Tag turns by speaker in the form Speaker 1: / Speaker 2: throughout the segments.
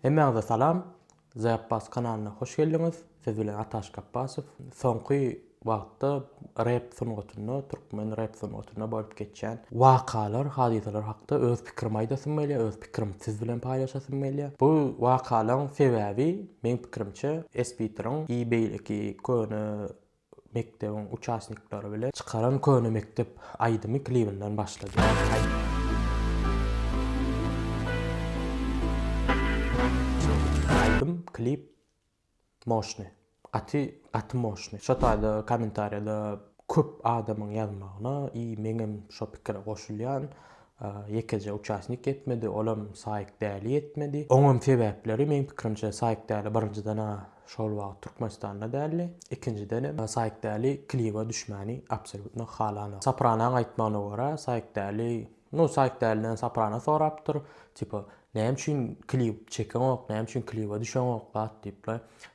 Speaker 1: Hemmäňize salam. The Abbas kanalyna hoş geldiňiz. Siz bilen Ataş Gapbasow. Soňky wagtda rep sungatynda, türkmen rep sungatynda bolup geçýän wakalar, hadysalar hakda öz pikirim aýdasym gelýär, öz pikirim siz bilen paýlaşasym gelýär. Bu wakalaň sebäbi meň pikirimçe, Esbitriň i beýleki köne mekdebiň uçasnikleri bilen çykaran Köne mekdep aýdymy klibinden başlady. Aýdym, klip moşny. Gaty, gaty moşny. Şo taýda kommentariýada köp adamyň ýazmagyna i meňem şo pikire goşulýan, Ýekeje uçasnik ýetmedi, olam Saýk Däli ýetmedi. Oňam sebäpleri, meň pikirimçe, Saýk Däli birinjiden-ä şol wagt Türkmenistanda däldi, ikinjidenem Saýk Däli kliba düşmäni absolýutno halanok. Sopranaň aýtmagyna görä, Saýk Däli, nu, Saýk Däliden Soprana sorapdyr, tipa, näme üçin klip çekeňok, näme üçin kliba düşeňok, zat diýip,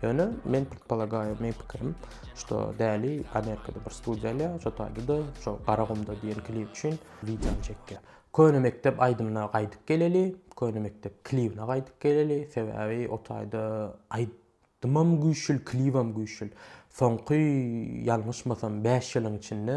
Speaker 1: Ýöne men predpolagaýu, meň pikirim, şo däli Amerikada bir studiýa alýar, şo taýda da şo Garagumda diýen klip üçin wideony çekýär. Köne mekdep aýdymyna gaýdyp geleli, köne mekdep klibine gaýdyp geleli, sebäbi o taýda aýdymam güýçül, klibem güýçül. Soňky ýalňyşmasam bäş ýylyň içinde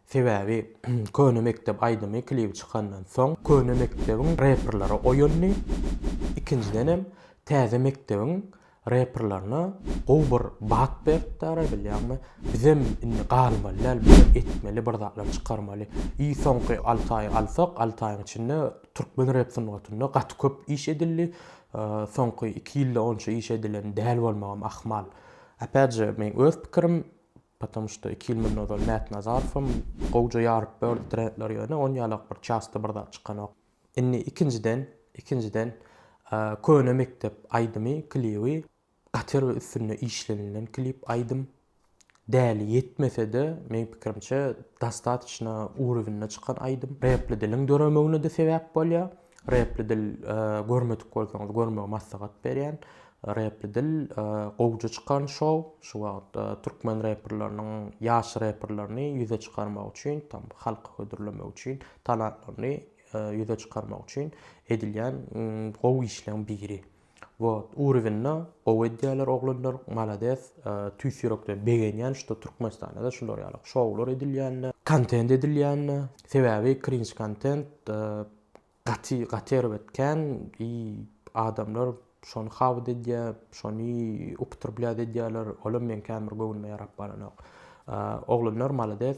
Speaker 1: Sebäbi Köne mekdep aýdymy klibi çykandan soň Köne mekdebiň reperleri oýandy, ikinjidenem Täze mekdebiň reperlerine gowy bir bat beripdara bilýäňmi, bizem indi galmaly däl bizem etmeli bir zatlar çykarmaly. I soňky alty aýy alsak alty aýyň içinde türkmen rep sungatynda gaty köp iş edildi, soňky iki ýylda onça iş edilen däl bolmagam ahmal. Apätje meň öz pikirim Potom şto iki ýyl mundan ozal Mätnazarowam gowja ýaryp bördi trendleri ýöne on ýalak bir çasta bir zat çykanok. Indi ikinjiden ikinjiden köne mekdep aýdymy klibi gaty bir üstünde işlenilen klip aýdym däli ýetmesede meň pikirimçe dostatçna urowinde çykan aýdym repli diliň döremegine de sebäp bolýa Repli dil görmedik bolsaňyz görmegi maslahat berýän. Repli dil gowja çykan şou. Şu wagt türkmen reperleriniň ýaş reperlerini ýüze çykarmak üçin, tam halky hödürlemek üçin, talantlaryny ýüze çykarmak üçin edilýän gowy işleň biri. Wot urywinda gowy edýäler oglanlar malades tüýs ýürekden begenýän şuda türkmenistanada şular ýaly şowlar edilýänine kontent edilýänine sebäbi krinç kontent gaty gaty erbet kän i adamlar şony habyt edýä şony uptrblýat edýäler olam meň kän bir göwnüme ýarap baranok oglanlar malades.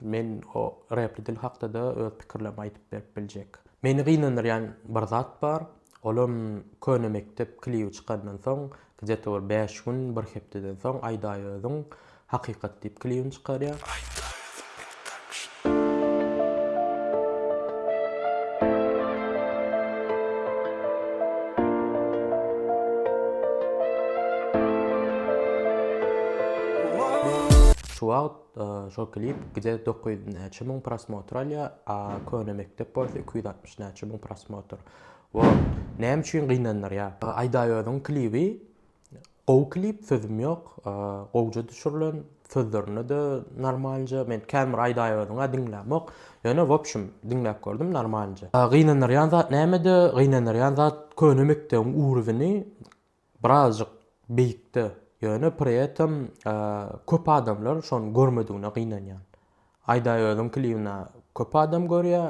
Speaker 1: Men o repli dil hakda-da öz pikirlerimi aýdyp berip biljek. Meni gynandyrýan bir zat bar, olam Köne mekdep klibi çykandan soň, gde-to bir bäş gün, bir hepdeden soň Aýdaýözüň Hakykat diýip klibini çykarýar. Şu wagt Şol klip gije dokuz ýüz näçe müň prosmotr alýar, a köne mekdep bolsa iki ýüz altmyş näçe müň prosmotr. Wo näme üçin gynandyrýar? Aýdaýozyn klibi gowy klip sözüm ýok gowja düşürlen sözlerinde-de normalnja men kän bir aýdaýozyňa diňlämok ýöne wobşim diňläp gördüm normalnja. Gynandyrýan zat nämede gynandyrýan zat köne mekdebiň ugrzyny Birazjyk beýikde, ýöne pri etem köp adamlar şony görmedigine gynanýan. Aýdaýözüň klibini köp adam görýä,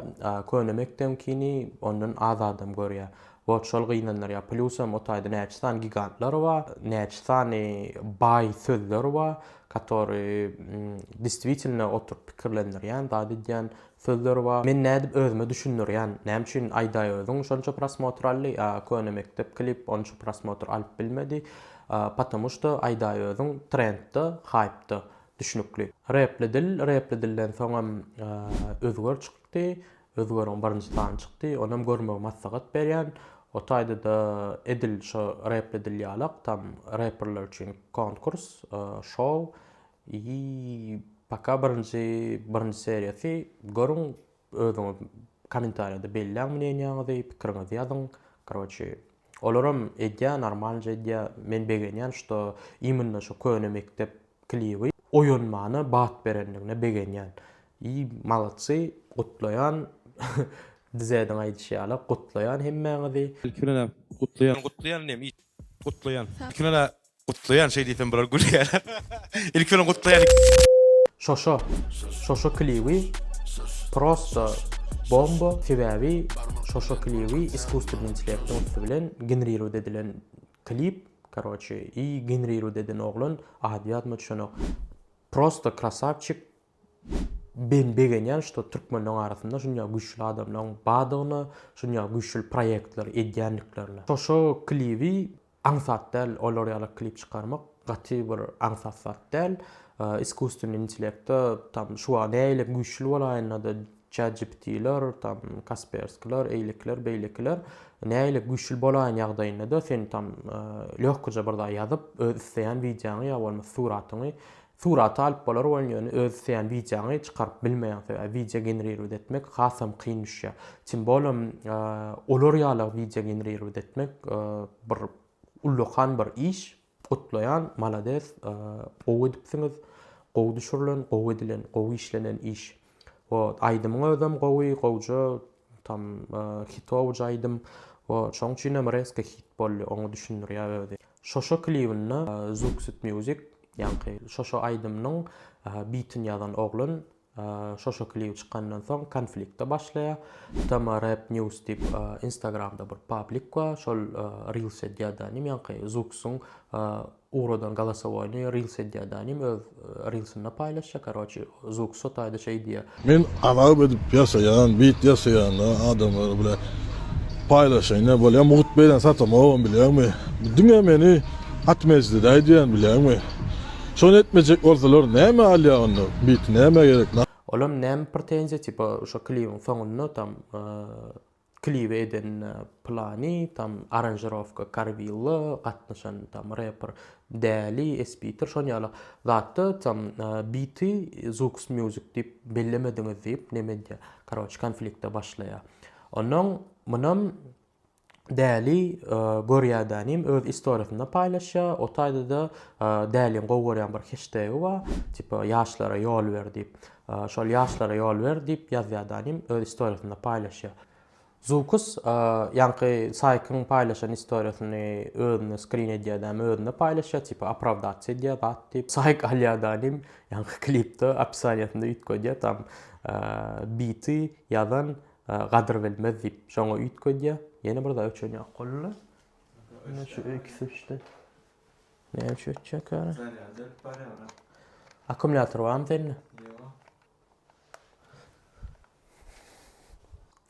Speaker 1: köne mekdebiňkini ondan az adam görýä. Wot şol gynandyrýa. Plusam o taýda näçe sany gigantlar bar, näçe sany baý sözler bar, katori distwitilno oturyp pikirlendirýän zat edýän Sözler bar men nädip özüme düşündirýän näme üçin aýdaý özüň şonça prosmotr aldy a köne mekdep klip onça prosmotr alyp bilmedi patomu şto aýdaý özüň trendda haýpda düşnükli repli dil repli dilden soňam özger çykdy özgeriň birinji sany çykdy onam görmegi maslahat berýän o taýdada edil şo repli dil ýalak tam reperler üçin konkurs şou Yyy paka birinji birinji seriýasy görüň özüňiz komentarýada belläň mneniýaňyzy pikiriňizi ýazyň karoçi olaram edýä normalnje edýä men begenýän şuda immnno şu köne mekdep kliby oýanmana bat berendigine begenýän yyy malatsy gutlaýan dzediň aýdyşy ýaly gutlaýan hemmäňizi. Ilki bilen-ä gutlaýan. Gutlaýan diýen it gutlaýan. Ilki bilen-ä Gutlaýan şeý diýsem bular gülýär. Ilki bilen gutlaýan. Şoşo şoşo klibi prosta bomba sebabi şoşo klibi iskustvny intellektiň üsti bilen ginrirowt edilen klip karoçe i ginrirowt eden oglan ady ýadyma düşenok prosta krasavçik ben begenýan şto türkmenleň arasynda şunýa güçli adamlaň badygyna şunýa güçli proýektler edýändiklerine şoşo klibi Aňsat däl olar ýaly klip çykarmak gaty bir aňsat zat däl iskusstvenny intellektda tam şu wagt näile güýçli bolaýynda-da chatgptler tam kasperskylar eýlekiler beýlekiler näile güýçli bolaýyn ýagdaýynda-da sen tam lehkoja bir zat ýazyp öz isleýän wideoňy ýa bolmasa suratyňy Suraty alyp bolar bolan ýöne öz isleýän wideoňy çykaryp bilmeýäň sebäbi wideo generirowat etmek hasam kyn düşýä. Tim bolem olar ýaly wideo generirowat etmek bir ullakan bir iş. Gutlaýan malades gowy edipsiňiz gowy düşürilen gowy edilen gowy işlenen iş. Woo aýdymyň özem gowy gowja tam hitowyja aýdym woo şoň üçinem resko hit boldy oňa düşündirýär özi. Şoşo klibinde Zuxit music ýaňky şoşo aýdymynyň bitini ýazan oglan şoşo klip çykandan soň konflikte başlaýar tma rap news diýip instagramda bir pablik bar şol reels edýär da inim ýaňky Zuxyň Ugradan galasowoýnyý rils edýädanim öz rilsinde paýlaşýa karoçi zuk sotaýda şeý diýýä. Men alap edip ýasaýan bit ýasaýanda adamlar bile paýlaşaýyn ne bolýa mugt beýlen satamogam bilýäňmi diňe meni atmejdedaý diýän bilýäňmi şony etmejek bolsalar näme alýa onda bit näme gerek. Olam näme pretenziýa tipa şo klibiň soňunda tam. Klibi eden Plani, tam aranžirowka Karwilla, gatnaşan tam reper Däli, Espiter şon ýaly zatda tam biti Zooks Music diýip bellemediňiz diýip Nemedýa karoç konflikte başlaýar. Onam munam Däli Gorýadanim öz istoriýasynda paýlaşýar, o taýda-da Dälin gowy görýän bir heştegi bar, tipa ýaşlara ýol ber diýip. Şol ýaşlara ýol ber, diýip ýazýardy anim, öz istoriýasynda paýlaşýar. Zukus ýaňky Saýkyň paýlaşan istoriýasyny özüne skrin edýärdi, hem özüne paýlaşýar, tipa opravdasiýa edýär zat diýip. Saýk alýardy anim, ýaňky klipde opisaniýasynda üýtgedýär, tam biti ýazan gadyr bilmez diýip, şoňa üýtgedýär. Ýene bir zat öçen ýok, boldy. Ine şu ikisi üçte. Näme üçin ötjek ýaly? Zarýad ölüp barýar. Akkumulýator barmy sende? Ýok.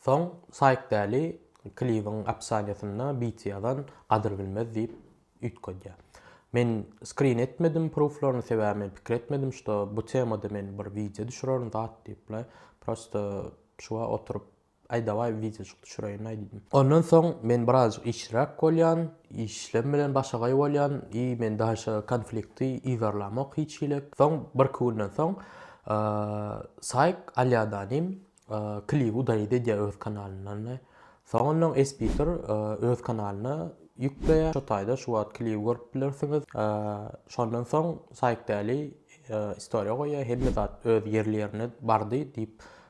Speaker 1: Soň Saýk Däli klibiň opsaniýasynda beat ýazan gadyr bilmez diýip üýtgedýär. Men skrin etmedim pruflaryny sebäbi men pikir etmedim şo bu temada men bir wideo düşürerin zat diýip bile prosto şuwa oturyp Aý dawaý wideojyk düşüreýin-aý diýdim. Ondan soň men birazjyk işliräk bolýan, işlem bilen başagaý bolýan i men daşa konflikti yzarlamok hiç hili. Soň birki günden soň Saýk Alýadanim klibi daýyt edýär öz kanalyndan-da. Soňundan Esbitor öz kanalyna ýükleýär. Şo taýda şu wagt klibi görüp bilersiňiz. Şondan soň Saýk Däli istoriýa goýýar, hemme zat öz ýerli-ýerine bardy diýip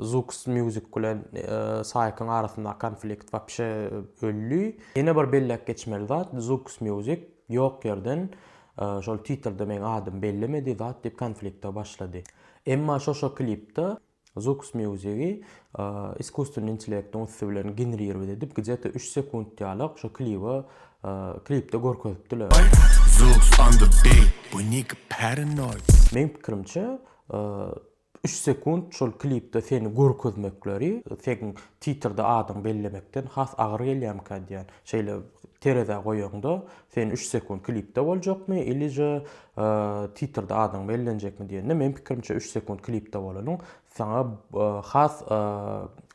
Speaker 1: Zoox Music bilen Saýkyň arasyndaky konflikt wapşe öldi. Ýene bir belläp geçmeli zat, Zoox Music ýok ýerden şol titrde meň adymy bellemedi zat diýip konflikte başlady. Emma şo-şo klipde Zoox Music-i iskusstvenny intellektiň üsti bilen genrirowat edip gde-ta üç sekunt ýalyk şo klibi klipde görkezipdiler. Meň pikirimçe Üç sekunt şol klipde seni görkezmekleri seň titrde adyňy bellemekden has agyr gelýärmikä diýýän. Şeýle terezä goýaňda sen üç sekunt klipde boljakmy ilije titrde adyň bellenjekmi diýende meň pikirimçe üç sekunt klipde bolanyň saňa has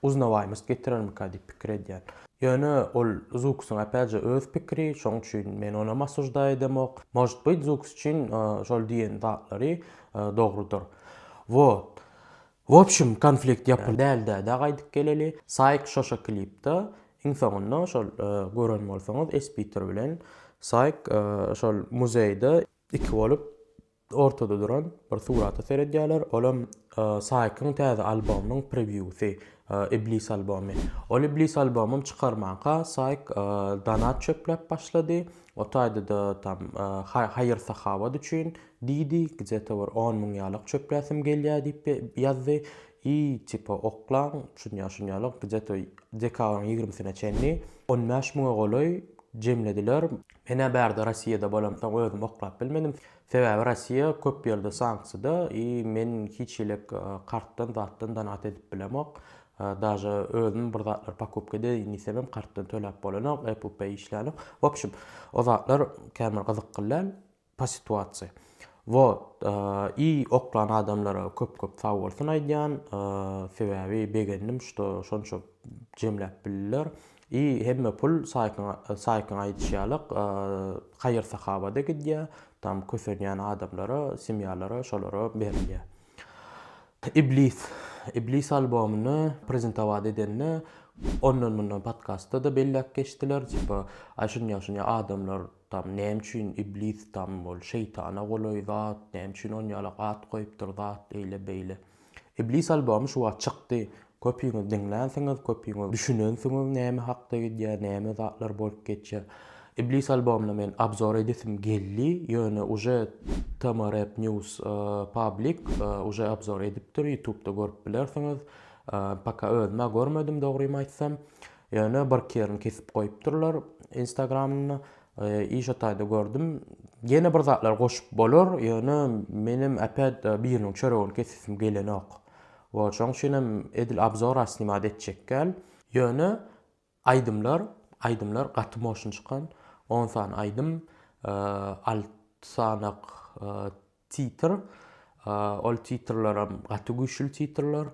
Speaker 1: uznawaýmyst getirermikä diýip pikir edýän. Ýöne ol Zuksuň apäje öz pikiri şoň üçin men onam asujdaý edemok. Možt byt Zuks üçin şol diýen zatlary Dogrudyr. Wot. Wobşim konflikt ýapyldy. Däldädä gaýdyp geleli. Saýk şoşa klipda iň soňunda şol gören bolsaňyz Espiter bilen Saýk şol muzeýde iki bolup ortada duran bir surata seredýäler olam Saýkyň täze albomynyň prewýusy Iblis albomy. Ol Iblis albomym çykarmanka Saýk donat çöpläp başlady o taýda-da tam haýyr sahawat üçin Diýdi, gzeta bir on müň ýalak çöpläsim gelýä diýip ýazdy. I tipa oklaň, şunýa şunýa ýalak, gzeta dekabryň ýigrimisine çenli on bäş müňe golaý jemlediler. Men-ä bärde Rossiýada bolamsoň özüm oklap bilmedim. Sebäbi Rossiýa köp ýerde sanksiýada i men hiç hili-k kartdan zatdan donat edip bilemok. Daže özüm bir zatlar pokupka edeýin diýsemem kartdan töläp bolanok, Apple Pay işlänok. W opşum, o zatlar kän bir gyzykly däl. Pa situasiýa. Wot i oklan adamlara köp köp sag bolsun aýdýan sebäbi begendim şto şonça jemläp bildiler i hemme pul saýkyň saýkyň aýdyşy ýaly haýyr sahabada gidýä tam kösenýän adamlara semýalara şolara berilýä iblis iblis albomyny prezentowat edende ondan mundan podkastda da belläp geçdiler tipa aý şunýa şunýa adamlar Tam näme üçin iblis tam ol şeýtana golaý zat näme üçin on ýalak at goýupdyr zat eýle beýle. Iblis albomy şu wagt çykdy köpüňiz diňlänsiňiz köpüňiz düşünensiňiz näme hakda gidýär näme zatlar bolup geçýär. Iblis albomyna men abzor edesim geldi ýöne uje tm rap news public uje abzor edipdir ýutubda görüp bilersiňiz paka özüm-ä görmedim dogrymy aýtsam Ýöne bir kerin kesip goýupdyrlar instagramyny iş otaýda gördüm. Ýene bir zatlar goşup bolar, ýöne menem äpet biriniň çöregini kesesim gelenok. Woo şoň üçinem edil abzora snimat etjekgäl. Ýöne aýdymlar aýdymlar gaty moşyn çykan, on sany aýdym, alty sanak Titr, ol titrleram gaty güýçli titrler.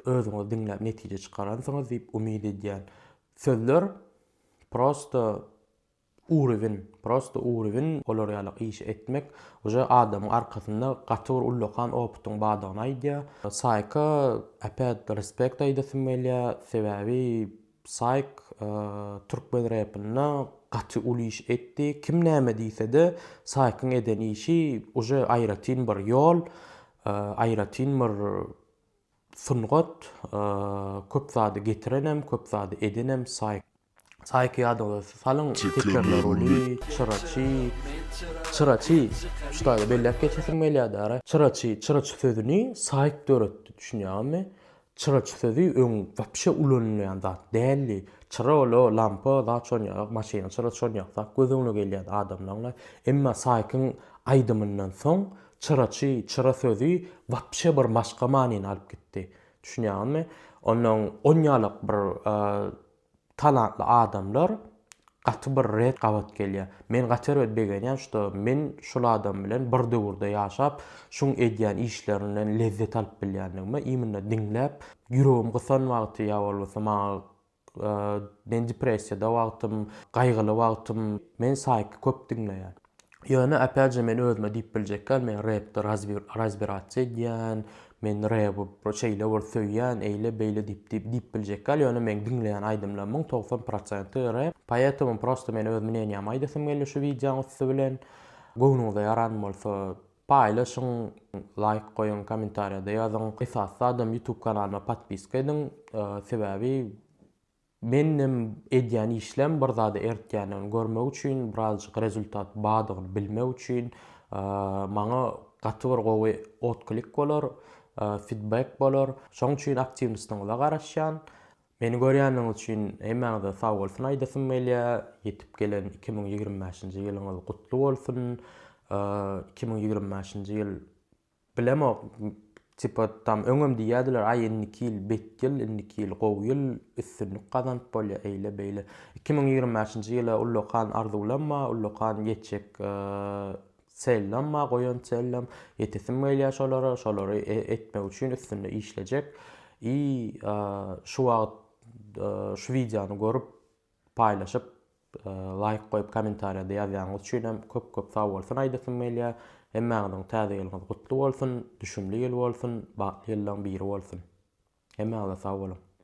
Speaker 1: Özüňiz diňläp netije çykaransyňyz diýip umyt edýän. Sözler prosta urewin, prosta urewin olar ýaly iş etmek uje adamyň arkasynda gaty bir ullakan opytyň bardygyny aýdýar. Saýka äpet respekt aýdasym gelýär, sebäbi Psy türkmen repinde gaty uly iş etdi. Kim näme diýsede Psykyň eden işi uje aýratyn bir ýol, aýratyn bir sungat, köp zady getirenem, köp zady edenem Psy. Psyky ýadyňyza salyň tekerler uly, çyraçy, çyraçy, şu taýda belläp geçesim gelýärdi ara, çyraçy, çyraçy sözüni Psy döretdi düşünýäňizmi? Çyraç sözi öň wapşe ulanylýan zat däldi. Çyra ol-a lampa, zat şon ýaly, maşynyň çyrasy şon ýaly zat göz öňüne gelýärdi adamlaryň-a. Emma Saýkyň aýdymyndan soň çyraçy, çyra sözi wapşe bir başga manyny alyp gitdi. Düşünýäňizmi? Onnoň on ýalak bir Talantly adamlar gaty bir red gabat gelýär. Men gaty bir begenýän şuda men şul adam bilen bir döwürde ýaşap şuň edýän işlerinden lezzet alyp bilýändigime imynda diňläp ýüregim gysan wagty ýa bolmasa maňa men depressiýada wagtym gaýgyly wagtym men saýky köp diňleýän. Ýöne opýat je men özüme diýip biljekgän men repde razbi razbirats edýän men rebi bir şeýle bir söýýän eýle beýle diýip diýip diýip biljekgän ýöne meň diňleýän aýdymlarymyň togsan prosenti rep poetomo prosto men özümi nenýam aýdasym geldi şu wideoň üsti bilen göwnüňize ýaran bolsa paýlaşyň laýk goýuň kommentariýada ýazyň esasy zadam ýutub kanalyma podpiska ediň sebäbi Menem edýän işlem bir zada ertýändigini görmek üçin, birazjyk rezultat bardygyny bilmek üçin maňa gaty bir gowy otklik bolar, fidbek bolar. Şoň üçin aktiwnostyňyza garaşýan. Meni görýändigiňiz üçin hemmäňize sag bolsun aýdasym gelýä. Ýetip gelen iki müň ýigrimi bäşinji ýylyňyz gutly bolsun. Iki müň ýigrimi bäşinji ýyl Bilemok tipa tam öňem diýýädiler aý indiki ýyl bet ýyl indiki ýyl gowy ýyl üstünlik gazanyp bolýa eýle beýle iki müň ýigrimi bäşinji ýyla ullakan arzuwlanma ullakan ýetjek çellanma goýan çellam ýetesim gelýä şolara şolary etmek üçin üstünde işlejek i şu wagt şu wideony görüp paýlaşyp Laýk goýup komentariýada ýazýanyz üçinem köp köp sagbolsun aýdasym gelýär. Hemmäňiziň täze ýylyňyz gutly bolsun, düşümli ýyl bolsun, bagtly ýyllaň biri bolsun. Hemmäňize sagboluň.